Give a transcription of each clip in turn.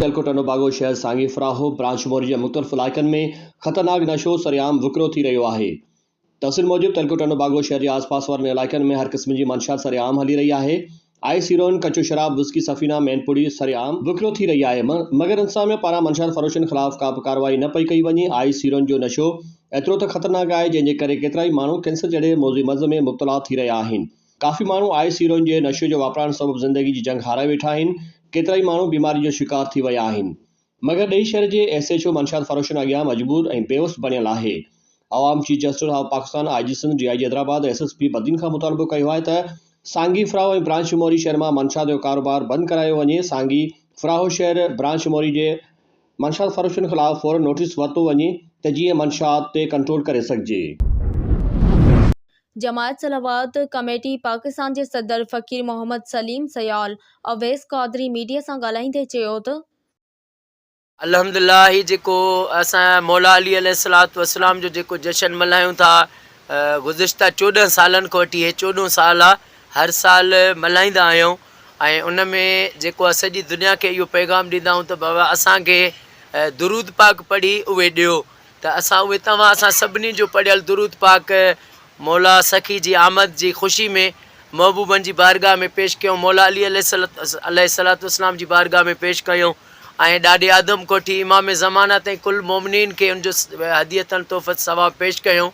سيالڪوٽ انڊو باگو شهر سانگي فراهو برانچ موري جي مختلف علائقن ۾ خطرناڪ نشو سرعام وڪرو ٿي رهيو آهي تفصيل موجب سيالڪوٽ انڊو باگو شهر جي آس پاس وارن علائقن ۾ هر قسم جي منشيات سرعام هلي رهي آهي آء سيروئن ڪچو شراب، وسڪي سفينه، مين پوڙهي سر عام وڪرو ٿي رهي آهي، مگر انتظاميه پاران منشيات فروشن خلاف ڪابه ڪارروائي نه پئي ڪئي وڃي، آء سيروئن جو نشو ايترو ته خطرناڪ آهي جنهن جي ڪري ڪيترائي ماڻهو ڪينسر جهڙي موضوعي مرض ۾ مبتلا ٿي رهيا آهن، ڪافي ماڻهو آء سيروئن جي نشي جو واپرائڻ سبب زندگي جي جنگ هارائي ويٺا آهن، ڪيترائي ماڻهو بيمارين جو شڪار ٿي ويا آهن. مگر ڏيئي شھر جي ايس ايڇ او منشاد فروشن اڳيان مجبور ۽ بيوس بڻيل آھي عوام chief justice of Pakistan I G Sindh D I G Hyderabad S S P Badin کان مطالبو ڪيو آھي ته سانگي فراھو ۽ برانچ شموري شھر مان منشاد جو ڪاروبار بند ڪرايو وڃي سانگي فراھو شھر برانچ شموري جي منشاد فروشن خلاف فورن نوٽيس ورتو وڃي ته جيئن منشاد تي ڪنٽرول ڪري سگهجي. جماعت صلوات ڪميٽي پاڪستان جي صدر فقير محمد سليم سيال اويس قادري ميڊيا سان ڳالهائيندي چيو ته الحمدلله هي جيڪو اسان مولا علي عليه الصلوة والسلام جو جيڪو جشن ملهايون ٿا گذشته چوڏهن سالن کان وٺي هي چوڏهون سال آ هر سال ملهائيندا آهيون ۽ ان ۾ جيڪو آ سڄي دنيا کي اهو پيغام ڏيندا آهيون ته بابا اسان کي درود پاڪ پڙهي اهي ڏيو ته اسان اهي توهان سان سڀني جو پڙهيل درود پاڪ مولا سخي جي آمد جي خوشي ۾ محبوبن جي بارگاهه ۾ پيش ڪيون مولا علي عليه الصلوة والسلام جي بارگاهه ۾ پيش ڪيون ۽ ڏاڏي آدم ڪوٺي امام زمانه تائين ڪل مؤمنين کي ان جو هدية تحفة ثواب پيش ڪيون.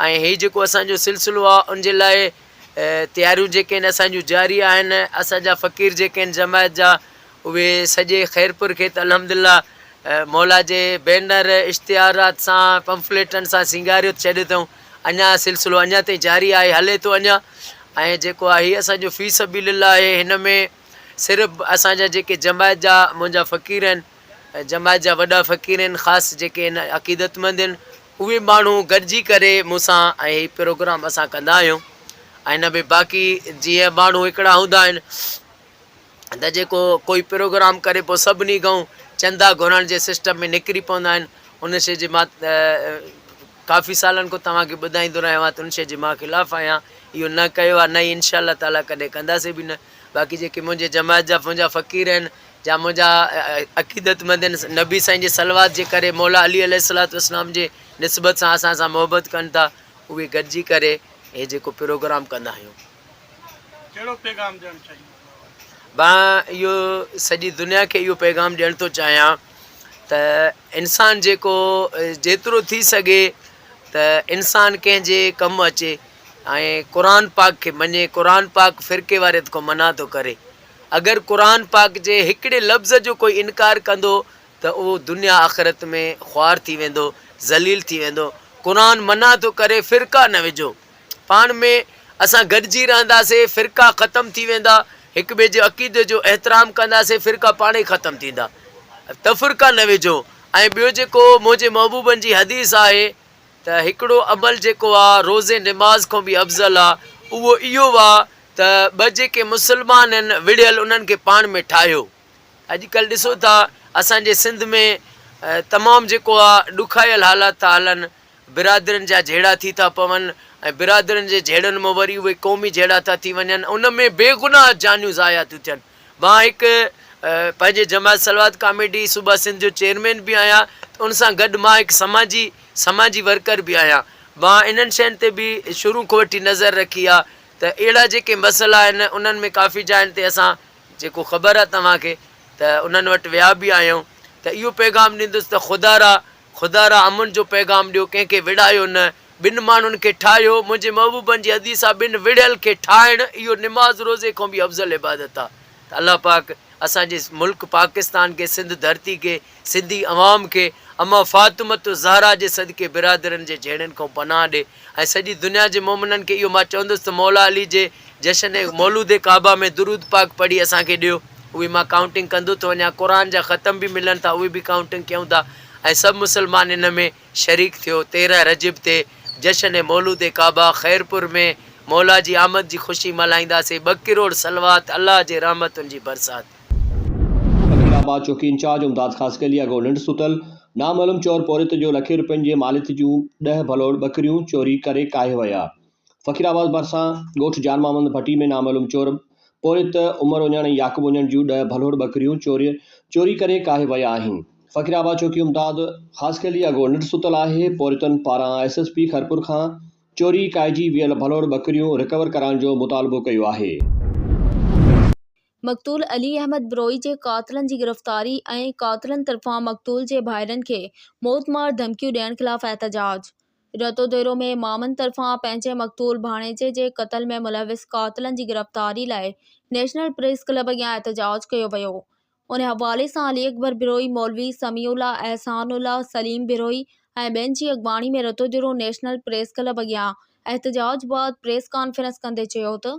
۽ هي جيڪو اسان جو سلسلو آ ان جي لاء تياريون جيڪي آهن اسان جون جاري آهن اسان جا فقير جيڪي آهن جماعت جا اهي سڄي خيرپور کي ته الحمدلله مولا جي بينر اشتهارات سان پمفليٽن سان سينگاريو ڇڏيو اٿئون اڃا سلسلو اڃا تائين جاري آهي هلي ٿو اڃا ۽ جيڪو آهي هي اسان جو في سبيل الله آهي هن ۾ صرف اسان جا جيڪي جماعت جا منهنجا فقير آهن جماعت جا وڏا فقير آهن خاص جيڪي آهن عقيدتمند آهن اهي ماڻهو گڏجي ڪري مون سان ۽ هي پروگرام اسان ڪندا آهيون ۽ هن ۾ باقي جيئن ماڻهو هڪڙا هوندا آهن ته جيڪو ڪوئي پروگرام ڪري پوء سڀني کان چندا گهرڻ جي سسٽم ۾ نڪري پوندا آهن ان شي جي مان ڪافي سالن کان توهان کي ٻڌائيندو رهيو آهيان ته ان شي جي مان خلاف آهيان اهو نه ڪيو آهي نه انشاء الله تعالٰي ڪڏهن ڪنداسي به نه باقي جيڪي منهنجي جماعت جا منهنجا فقير آهن جا منهنجا عقيدتمند هن نبي سائين جي صلوات جي ڪري مولا علي عليه الصلوة والسلام جي نسبت سان اسان سان محبت ڪن ٿا اهي گڏجي ڪري هي جيڪو پروگرام ڪندا آهيون ڪهڙو پيغام ڏيڻ چاهيندا مان اهو سڄي دنيا کي اهو پيغام ڏيڻ ٿو چاهيان ته انسان جيڪو جيترو ٿي سگهي ته انسان ڪنهن جي ڪم اچي ۽ قرآن پاڪ کي مڃي قرآن پاڪ فرقي واريت کان منع ٿو ڪري اگر قرآن پاڪ جي هڪڙي لفظ جو ڪوئي انڪار ڪندو ته اهو دنيا آخرت ۾ خوار ٿي ويندو ذليل ٿي ويندو قرآن منع ٿو ڪري فرقا نه وجهو پاڻ ۾ اسان گڏجي رهنداسين فرقا ختم ٿي ويندا هڪ ٻئي جي عقيدي جو احترام ڪنداسين فرقا پاڻ ئي ختم ٿيندا تفرقا نه وجهو ۽ ٻيو جيڪو منهنجي محبوبن جي حديث آهي ته هڪڙو عمل جيڪو آ روزي نماز کان به افضل آ اهو اهو آ ته ٻه جيڪي مسلمان هن وڙهيل انهن کي پاڻ ۾ ٺاهيو اڄ ڪلهه ڏسو ٿا اسان جي سنڌ ۾ تمام جيڪو آ ڏکايل حالات ٿا هلن برادرين جا جهيڙا ٿي ٿا پون ۽ برادرين جي جهيڙن مان وري اهي قومي جهيڙا ٿا ٿي وڃن ان ۾ بي گناهه جانيون ضايع ٿيون ٿين مان هڪ پنهنجي جماعت صلوات ڪاميٽي صوبه سنڌ جو چيئرمين به آهيان ته ان سان گڏ مان هڪ سماجي سماجي ورڪر به آهيان مان انهن شين تي به شروع کان وٺي نظر رکي آهي ته اهڙا جيڪي مسئلا آهن انهن ۾ ڪافي جاين تي اسان جيڪو خبر آهي توهان کي ته انهن وٽ ويا به آهيون ته اهو پيغام ڏيندس ته خدارا خدا را امن جو پيغام ڏيو ڪنهن کي وڙهايو نه ٻن ماڻهن کي ٺاهيو منهنجي محبوبن جي حديث آ ٻن وڙهيل کي ٺاهڻ اهو نماز روزي کان به افضل عبادت آ ته الله پاڪ اسان جي ملڪ پاڪستان کي سنڌ ڌرتي کي سنڌي عوام کي اما فاطمة الزهراء جي صدقي برادرن جي جهيڙن کان پناهه ڏي ۽ سڄي دنيا جي مومنن کي اهو مان چوندس ته مولا علي جي جشن مولود ڪعبه ۾ درود پاڪ پڙهي اسان کي ڏيو. اهي مان ڪائونٽنگ ڪندو ٿو وڃان قرآن جا ختم به ملن ٿا اهي به ڪائونٽنگ ڪيون ٿا ۽ سڀ مسلمان ان ۾ شريڪ ٿيو تيرهن رجب تي جشن مولود ڪعبه خيرپور ۾ مولا جي آمد جي خوشي ملهائينداسين ٻه ڪروڙ صلوات الله جي رحمتن جي برسات. بگهڙ آباد چوڪي انچارج امداد خاصخيلي اڳوڻ ننڊ ستل نامعلوم چور پورهيت جو لکين روپين جي ماليت جون ڏهه ڀلوڙ ٻڪريون چوري ڪري ڪاهي ويا. فقير آباد ڀرسان ڳوٺ جان محمد ڀٽي ۾ نامعلوم چور پورهيت عمر اڃڻ ۽ يعقوب اڃڻ جون ڏهه ڀلوڙ ٻڪريون چوري چوري ڪري ڪاهي ويا آهن فقير آباد چوڪي امداد خاصخيلي اڳو نٽ ستل آهي پورهيتن پاران ايس ايس پي خيرپور کان چوري ڪاهجي ويل ڀلوڙ ٻڪريون رڪور ڪرائڻ جو مطالبو ڪيو آهي. مقتول علي احمد بروهي جي قاتلن جي گرفتاري ۽ قاتلن طرفان مقتول جي ڀائرن کي موتمار ڌمڪيون ڏيڻ خلاف احتجاج، رتو ديرو ۾ مامن طرفان پنهنجي مقتول ڀاڻيجي جي قتل ۾ ملوث قاتلن جي گرفتاري لاء نيشنل پريس ڪلب اڳيان احتجاج ڪيو ويو ان حوالي سان علي اڪبر بروهي مولوي سميع الله احسان الله سليم بروهي ۽ ٻين جي اڳواڻي ۾ Rato Dero national press club اڳيان احتجاج بعد پريس ڪانفرنس ڪندي چيو ته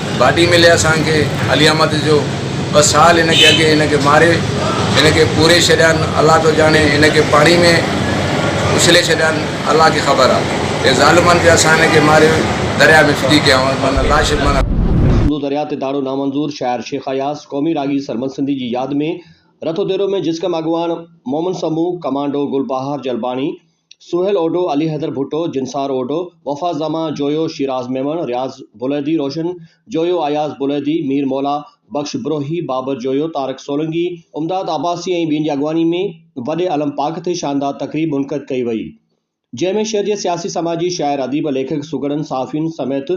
باڊي ملي اسان کي علي احمد جو ٻه سال هن کي اڳي هن کي ماري هن کي پوري ڇڏيان الله ٿو ڄاڻي هن کي پاڻي ۾ اڇلي ڇڏيان الله کي خبر آ هي ظالمن کي اسان هن کي ماري دريا ۾ ڦٽي ڪيائون معنيٰ لاش معنيٰ سنڌو درياء تي تاڙو نامنظور شاعر شيخ اياز قومي راڳي سرمد سنڌي جي ياد ۾ رٿو ديرو ۾ جسقم اڳواڻ مومن سمون ڪمانڊو گل بهار جلباڻي سهيل اوڍو، علي حيدر ڀٽو، جنسار اوڍو، وفا زما، جويو شيراز ميمڻ، رياض بليدي، روشن جويو، اياز بليدي، مير مولا بخش بروهي، بابر جويو، طارق سولنگي، امداد عباسي ۽ ٻين جي اڳواڻي ۾ وڏي علم پاڪ تي شاندار تقريب منعقد ڪئي وئي جنهن ۾ شهر جي سياسي سماجي شاعر اديب ليکڪ سگهڙن صحافين سميت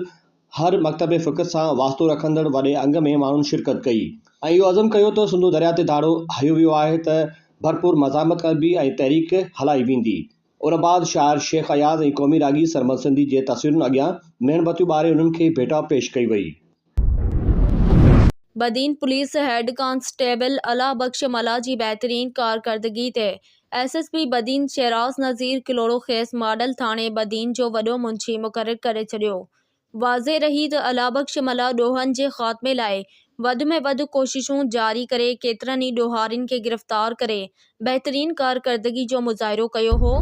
هر مڪتب فڪر سان واسطو رکندڙ وڏي انگ ۾ ماڻهن شرڪت ڪئي ۽ اهو عزم ڪيو ته سنڌو درياء تي ڌاڙو هنيو ويو آهي ته ڀرپور مزاحمت ڪبي ۽ تحريڪ هلائي ويندي. ان بعد شاعر شيخ اياز ۽ قومي راڳي سرمد سنڌي جي تصويرن اڳيان ميڻ بتيون ٻاري انهن کي ڀيٽا پيش ڪئي وئي. Badin police head constable Allah Bux Mallah جي بهترين ڪارڪردگي تي S S P Badin Shahraz Nazir Kalhoro کيس ماڊل ٿاڻي بدين جو وڏو منشي مقرر ڪري ڇڏيو. واضح رهي ته الله بخش ملاح ڏوهن جي خاتمي لاء وڌ ۾ وڌ ڪوششون جاري ڪري ڪيترن ئي ڏوهارين کي گرفتار ڪري بهترين ڪارڪردگي جو مظاهرو ڪيو هو.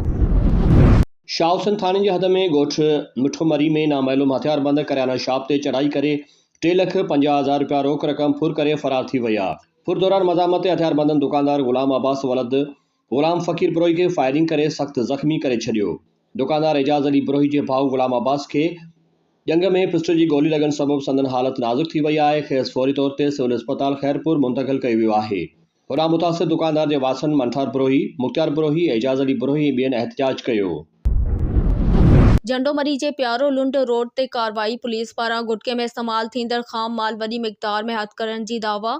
شاهه حسين ٿاڻي جي حد ۾ ڳوٺ مٺو مري ۾ نامعلوم هٿياربند ڪريانا شاپ تي چڙهائي ڪري ٽي لک پنجاهه هزار رپيا روڪ رقم ڦر ڪري فرار ٿي ويا. ڦر دوران مزاحمت هٿياربندن دڪاندار غلام عباس ولد غلام فقير بروهي کي فائرنگ ڪري سخت زخمي ڪري ڇڏيو. دڪاندار اعجاز علي بروهي جي ڀاء غلام عباس کي ڄنگهه ۾ پسٽل جي گولي لڳڻ سبب سندن حالت نازڪ ٿي وئي آهي، کيس فوري طور تي سول اسپتال خيرپور منتقل ڪيو ويو آهي. هوڏانهن متاثر دڪاندار جي وارثن منٺار بروهي، مختيار بروهي، اعجاز علي بروهي ۽ ٻين احتجاج ڪيو. جهنڊومري جي پيارو لنڊ روڊ تي ڪارروائي، پوليس پاران گٽڪي ۾ استعمال ٿيندڙ خام مال وڏي مقدار ۾ هٿ ڪرڻ جي دعويٰ،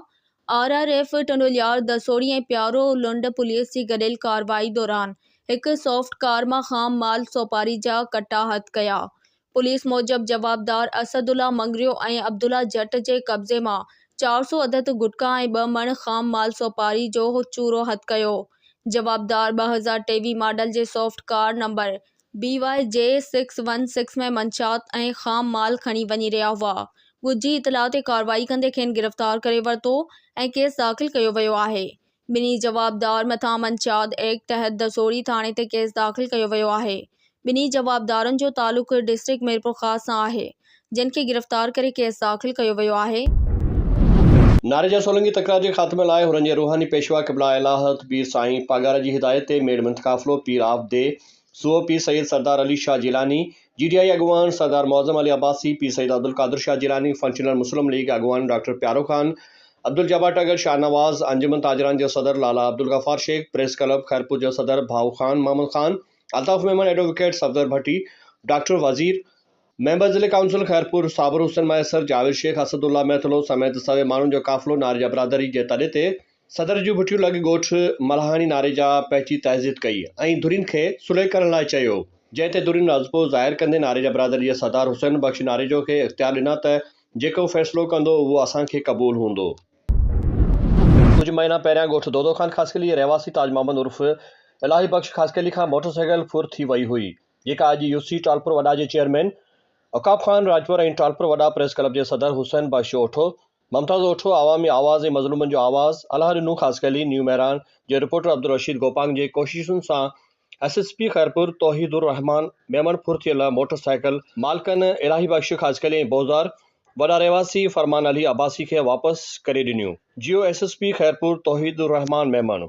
آر آر ايف ٽنڊوليار دسوڙي ۽ پيارو لنڊ پوليس جي گڏيل ڪارروائي دوران هڪ سوفٽ ڪار مان خام مال سوپاري جا ڪٽا هٿ ڪيا، پوليس موجب جوابدار اسد الله مڱريو ۽ عبدالله جٽ جي قبضي مان چار سؤ عدد گٽڪا ۽ ٻه مڻ خام مال سوپاري جو چورو هٿ ڪيو. جوابدار ٻه هزار ٽيويهه ماڊل جي swift car number B Y G six one six ۾ منشيات ۽ خام مال کڻي وڃي رهيا هئا. ڳجهي اطلاع تي ڪارروائي ڪندي کين گرفتار ڪري ورتو ۽ ڪيس داخل ڪيو ويو آهي. ٻنهي جوابدار مٿان منشيات ايڪٽ تحت دسوڙي ٿاڻي تي ڪيس داخل ڪيو ويو آهي. ٻنهي جوابدارن جو تعلق ڊسٽرڪٽ ميرپورخاص سان آهي، جن کي گرفتار ڪري ڪيس داخل ڪيو ويو آهي. ناري جا سولنگي تڪرار جي خاتمي لاء هنن جي روحاني پيشوا قبله الهه الحق پير سائين پاڳارا جي هدايت تي ميڙ منٿ قافلو پير آف دي سو Pir Syed Sardar Ali Shah Jilani, G D A اڳواڻ سردار معظم علي عباسي، پير سيد عبدالقادر شاهه جيلاني، فنڪشنل مسلم ليگ اڳواڻ ڊاڪٽر پيارو خان، عبدالجبار ٽڳر، شاهنواز، انجمن تاجران جو صدر لالا عبدالغفار شيخ، پريس ڪلب خيرپور جو صدر ڀائو Khan Muhammad Khan, Altaf Memon, advocate Safdar Bhatti, doctor Wazir, member ضلعي ڪائونسل خيرپور صابر حسين مهيسر، جاويد شيخ، اسد الله مهتلو سميت سوين ماڻهن جو قافلو ناريجا برادري جي تڏي تي صدر جون ڀٺيون لڳ ڳوٺ ملهاڻي ناريجا پهچي تعزيت ڪئي ۽ ڌرين کي صلح ڪرڻ لاء چيو، جنهن تي ڌرين رضپو ظاهر ڪندي ناريجا برادري جي سردار حسين بخش ناريجو کي اختيار ڏنا ته جيڪو فيصلو ڪندو اهو اسان کي قبول هوندو. ڪجهه مهينا پهريان ڳوٺ دودو خان خاصخيلي جي رهواسي تاج محمد عرف الاهي بخش خاصخيلي کان موٽرسائيڪل ڦر ٿي وئي هئي، جيڪا اڄ يو سي ٽالپر وڏا جي چيئرمين عقاب خان راڄپر ۽ ٽالپر وڏا پريس ڪلب جي صدر حسين بخش اوٺو، ممتاز اوٺو، عوامي آواز ۽ مظلومن جو آواز، الهه رنو خاصخيلي، نيو مهراڻ، جي رپورٽر عبدالرشيد گوپانگ جي ڪوششن سان S S P Khairpur Tauheed ur Rehman Memon ڦر ٿيل موٽر سائيڪل مالڪن الاهي بخش خاصخيلي ۽ بوزار وڏا رهواسي فرمان علي عباسي کي واپس ڪري ڏنيون جيو S S P Khairpur Tauheed ur Rehman Memon.